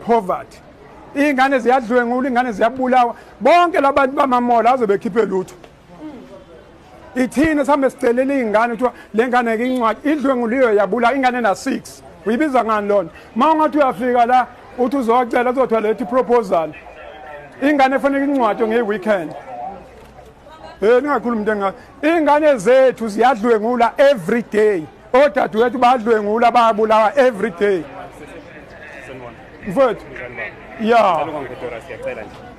poverty iy'ngane ziyadlwengula iy'ngane ziyabulawa bonke labantu bamamola aze bekhiphe lutho ithina sihambe sicelela iy'ngane kuthiwa le ngane ke incwadi idlwenguliyo yabula ingane na-six uyibiza ngani lona uma ungathi uyafika la uthi uzocela uzothiwa lethi iproposal ingane efanele incwadi ngeyi-weekend um ningakhulumi into engaka iy'ngane zethu ziyadlwengula every day odadewethu badlwengula bayabulawa every day mfowethu ya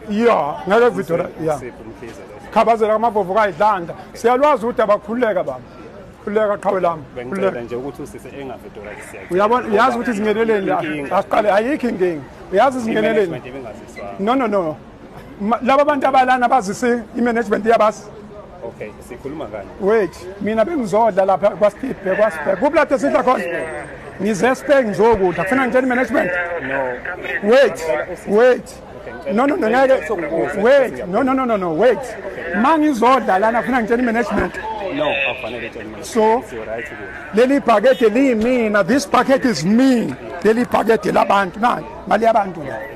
ya ngeke vidora ya khabazela kamavovo kayidlanda siyalwazi ukuthi abakhululeka baba khululeka qhawe lami uyabona uyazi ukuthi izingeneleni la asiqale ayikho inkinga uyazi izingeneleni no no no laba bantu abalana bazise i-management iyabasi Okay, sikhuluma kanye. Wait, mina bengizodla lapha kwaSiphe, kwaSiphe. Kuphi lapho sidla khona? Ngize Spain ngizokudla. Kufuna ngitshele management? No. Wait, wait. No no no ngeke. Wait, no no no no no, wait. Mangizodla lana kufuna ngitshele management. No, akufanele utshele management. So, leli package liyimina. This package is me. Leli package labantu nani? Mali yabantu la.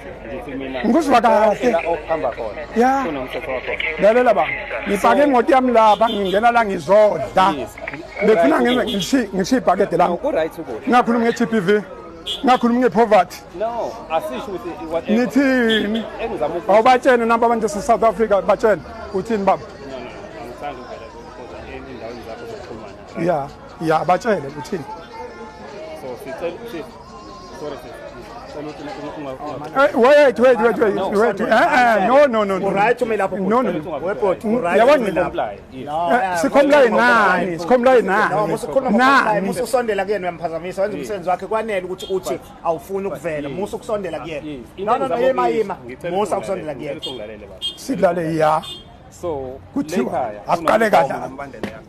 ngikuzwa kahle ya lalela ba ngipake imoto yami lapha ngingena la ngizodla befuna ngenze ngishiye ibhakede lami ngakhuluma nge-t p v ngakhuluma ngepoverty no asisho ukuthi nithini engizama ukuthi awubatshene nabo abantu se South Africa batshene uthini baba no no angithanda ukuvela kodwa endaweni zakho zokuxhumana yeah yeah batshele uthini so sicela wait wait wait wait no, wait eh eh no no no right umi lapho no no webot right yabona lapho sikhomlaye nani sikhomlaye nani musikhuluma nani mususondela kuyena uyamphazamisa wenza umsebenzi wakhe kwanele ukuthi uthi awufuni ukuvela musu kusondela kuyena no no no yima yima musa kusondela kuyena sidlale ya so kuthiwa asiqale kahle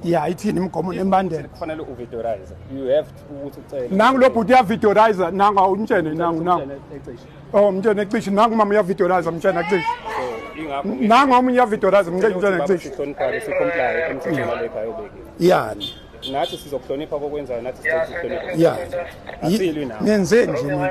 ya ithini imigomo nembandela kufanele uvidorize you have to ukuthi ucele nangu lo bhuti uyavidorize nangu awumtshene nangu nangu oh mtshene cishe nangu mama uyavidorize mtshene cishe nangu omunye uyavidorize mtshene cishe yani nathi sizokuhlonipha kokwenzayo nathi sizokuhlonipha yani nenzeni nje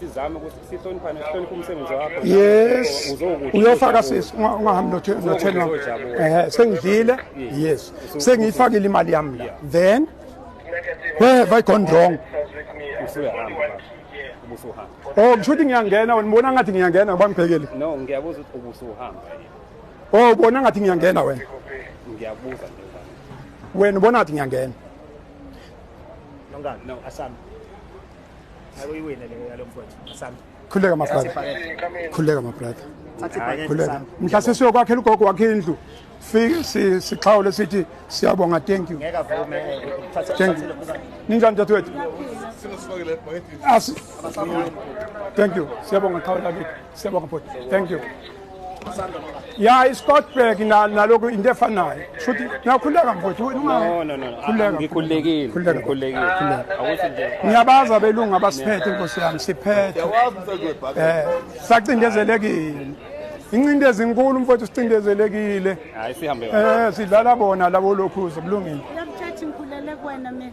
sizame ukuthi sihloniphane sihloniphe umsebenzi wakho yes uyofaka sisi ungahambi notheni wam ehe sengidlile yes sengiyifakile imali yami la then where have i gone wrong oh kusho ukuthi ngiyangena wena ubona ngathi ngiyangena ngoba ngibhekile no ngiyabuza ukuthi ubusuhamba oh ubona ngathi ngiyangena wena ngiyabuza wena ubona ngathi ngiyangena no asambe khululeka mabrother khululeka mabrother khululeka mhla sesiyokwakhela ugogo wakhe indlu fike sixhawule sithi siyabonga thank you thank you ninjani dadewethu thank you siyabonga xhawula kithi Siyabonga bhuti. Thank you. Ya iScottburg na naloko into efanayo. Shuthi nakhuleka mfowethu wena unga. No no no. Khuleka. Ngikhulekile. Khuleka. Ngikhulekile. Khuleka. Awuthi nje. Ngiyabaza abelungu abasiphethe Nkosi yami siphethe. Eh sacindezelekile. Incindezi inkulu mfowethu sicindezelekile. Hayi sihambe. Eh sidlala bona labo lokhuza kulungile. Uyamthatha ngikhulele kuwena mina.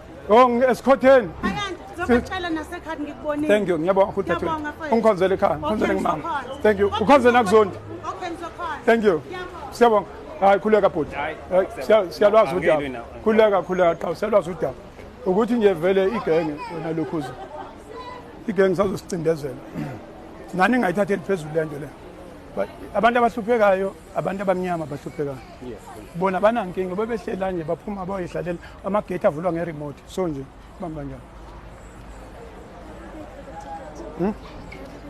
Oh esikhotheni. Zobacela nasekhaya ngikubonile. Thank you. Ngiyabonga futhi thathu. Ungikhonzele ekhaya. Ngikhonzele ngimama. Thank you. Ukhonzele nakuzonto. Okay ngizokhona. Thank you. Siyabonga. Hayi khuleka bhuti. Siyalwazi udaba. Khuleka khuleka qha siyalwazi udaba. Ukuthi nje vele igenge wena lokhuza. Igenge sazosicindezela. Nani ngayithatheli phezulu lento le. But abantu abahluphekayo, abantu abamnyama abahluphekayo. bona banankinga bebehlela nje baphuma bayoyidlalela amagate avulwa nge-remote so nje bamba njani hmm?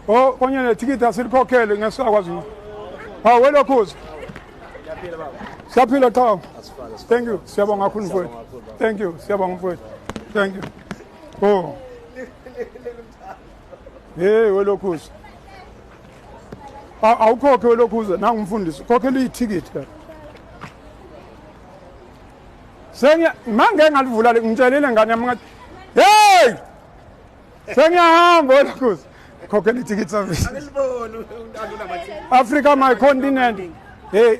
o oh, konye nethikithi asilikhokhele ngesakwazi hawu welokhuza siyaphila qhawu thank you siyabonga kakhulu mfowethu thank you siyabonga mfowethu thank you o oh. Hey welokhuza. Awukhokhe welokhuza nangu umfundisi khokhela ithikithi la. Sengiya mangeke ngalivula ngitshelile ngane yami ngathi hey sengiyahamba welokhuza khokhela ithikithi service. Africa my continent. Hey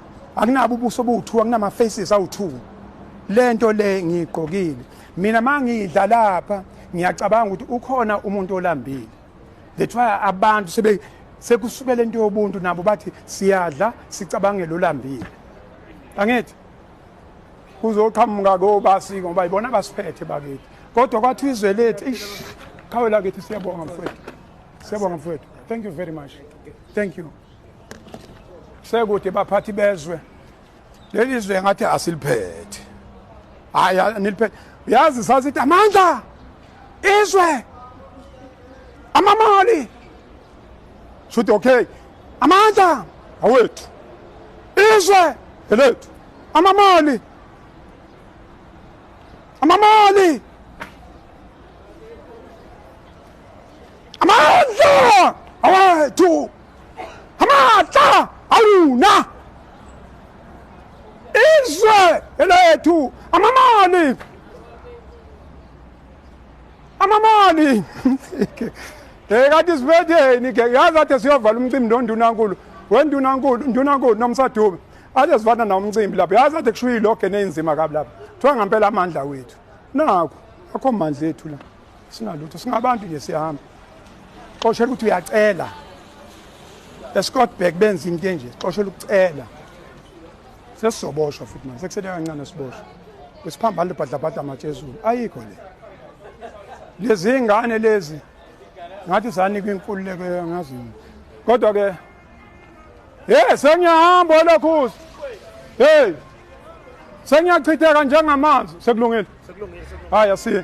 akunabo ubuso obuwu-two akunama-faces awu-two le nto le ngiyigqokile mina ma ngidla lapha ngiyacabanga ukuthi ukhona umuntu olambile that's why abantu sebe sekusukela into yobuntu nabo bathi siyadla sicabangele olambile angithi kuzoqhamuka kobasi ngoba yibona abasiphethe bakithi kodwa kwathi izwe lethu ish qhawe lakithi siyabonga mfowethu siyabonga mfowethu thank you very much thank you sekude baphathi bezwe leli zwe ngathi asiliphethe hayi niliphethe uyazi sasithi amandla izwe amamali shuthi okay amandla awethu izwe elethu amamali amamali amandla awethu amatla awuna izwe elethu amamani amamani eh kanti sibetheni ke yazi athe siyovala umcimbi nondunankulu wendunankulu ndunankulu nomsadube athe sivana nawo umcimbi lapho yazi athe kushuya iloge neyinzima kabi lapho kuthiwa ngampela amandla wethu nakho akho mandla ethu la singalutho singabantu nje siyahamba xoshela ukuthi uyacela escottburg benza into enje xoshela ukucela sesizoboshwa futhi manje sekusele kancane siboshwa besiphambane libhadlabhadla amatshe ezulu ayikho le lezi ngane lezi ngathi zanikwa inkululeko yangazi kodwa-ke Hey sengiyahamba wena khusi. Hey. Sengiyachitheka njengamanzi sekulungile. Sekulungile. Hayi asiye.